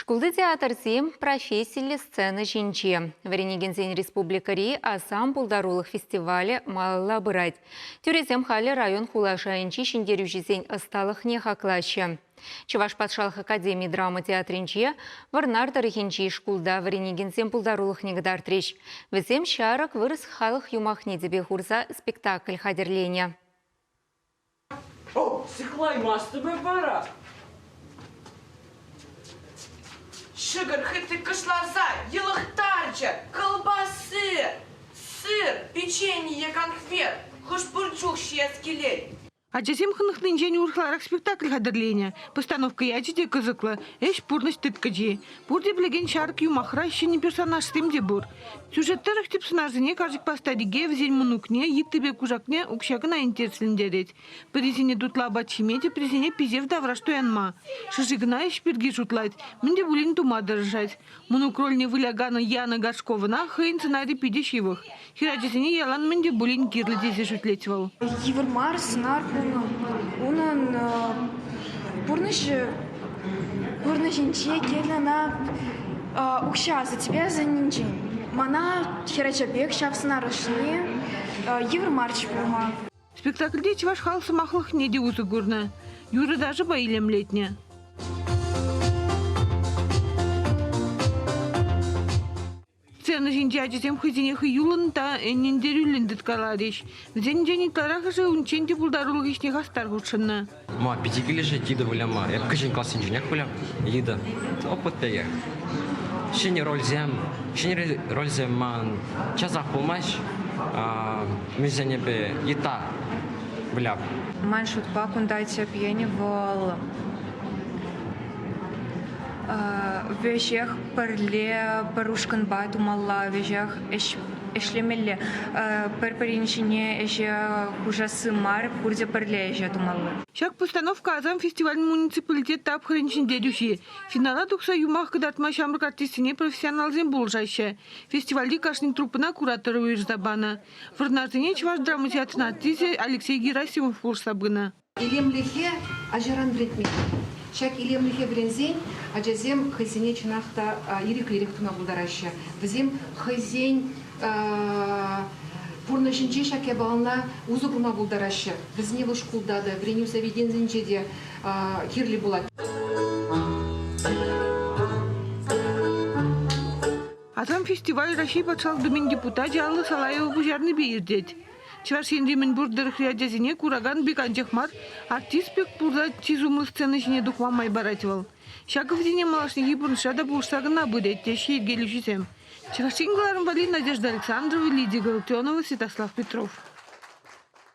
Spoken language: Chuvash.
Шкулти театрсем профессиллӗ сцена ҫинче. Вӗренекенсен республикӑри Асам пултарулӑх фестивалӗ малалла пырать. Тӳресем халӗ район хула шайӗнчи ҫӗнтерӳҫӗсен ӑсталӑхне хаклаҫҫӗ. Чӑваш патшалӑх академи драма театрӗнче Вӑрнар тӑрӑхӗнчи шкулта вӗренекенсем пултарулӑхне кӑтартрӗҫ. Вӗсем ҫарӑк вырӑс халӑх юмахне тӗпе хурса спектакль хатӗрленӗ. О, сыхлаймастӑп эп вара. Шӗкӗр хытӑ кӑшласа йӑлӑхтарчӗ. Кӑлпасси, сыр, печенье, конфет, хӑш-пӗр чух ҫиес килет. Ачасем хӑнӑхнинчен урӑхларах спектакль хатӗрленӗ. Постановка ячӗ те кӑсӑклӑ, ӗҫ пурнӑҫ тыткӑчи. Пурте пӗлекен ҫар юмахра ҫӗнӗ персонажсем те пур. Сюжет тӑрӑх тӗп сӑнарсене карчӑкпа старике, вӗсен мӑнукне, йыттипе кушакне укҫа кӑна интереслентерет. Пӗрисене тутлӑ апат ҫиме те, пӗрисене писев тавраш туянма. Шӑши кӑна ӗҫ пирки шутлать, мӗн те пулин тума тӑрӑшать. Мӑнук рольне выляканӑ Яна Горшковӑна хӑйӗн сӑнарӗ питӗ ҫывӑх. Хӗр ачасене ялан мӗн те пулин кирлӗ тесе шӳтлет вӑл. Йывӑр мар сӑнар пулнӑ унӑн пурнӑҫӗ пурнӑҫӗнче килнӗ ӑна укҫа асатепе асанненчен. Мана хӗрача пек ҫав сӑнар ӑшне йывӑр марч пулма. Спектакльте чӑваш халӑх сӑмахлӑхне те усӑ курнӑ, юрӑ-ташӑпа илемлетнӗ. Сцена ҫинче ачасем хӑйсене хӑюллӑн та ӗнентерӳллӗн тыткаларӗҫ. Вӗсенчен ытларахӑшӗ унччен те пултарулӑх ӗҫне хастар хутшӑннӑ. Ма питӗ килӗшет Лида выляма? Эп кӗҫӗн классенченех вылям. Лида, опыт пекех. Ҫӗнӗ рольсем, ҫӗнӗ рольсем ман часах пулмасть. Мӗнсенӗпе йыта выляп. Ман шутпа, кунта тӗп енӗ вӑл Веҫех пӗрле пӗр ушкӑнпа тумалла, веҫех ӗҫлемелле. Пӗр-пӗрин ҫине ӗҫе хушасси мар, пурте пӗрле ӗҫе тумалла. Ҫак постановка Асам фестивалӗн муниципалитет тапхӑрӗн ҫӗнтерӳҫи. Финала тухса юмах кӑтартма ҫамрӑк артистсене профессионалсем пулӑшаҫҫӗ. Фестивальти кашни труппӑна куратор уйӑрса панӑ. Вӑрнарсене чӑваш драма театрӗн артисчӗ Алексей Герасимов пулӑшса пынӑ. Илемлӗхе ачаран вӗрентмелле. Ҫак илемлӗхе вӗренсен ачасем хӑйсене чӑнах та ирӗклӗрех тума пултараҫҫӗ. Вӗсем хӑйсен пурнӑҫӗнче ҫак япалана усӑ курма пултараҫҫӗ. Вӗсене вӑл шкулта та, вӗренӳ заведенийӗнче те кирлӗ пулать. Асам фестиваль Раҫҫей Патшалӑх Думин депутачӗ Алла Салаева пуҫарнипе иртет. Чӑваш Енри мӗнпур тӑрӑхри ачасене куракан пек анчах мар, артист пек пурла чи сумлӑ сцена ҫине тухма май парать вӑл. Ҫакӑ вӗсене малашнехи пурнӑҫра та пулӑшса кӑна пырать, теҫҫӗ йӗркелӳҫӗсем. Чӑваш Ен кӑларӑмпа Надежда Александрова, Лидия Галатионова, Святослав Петров.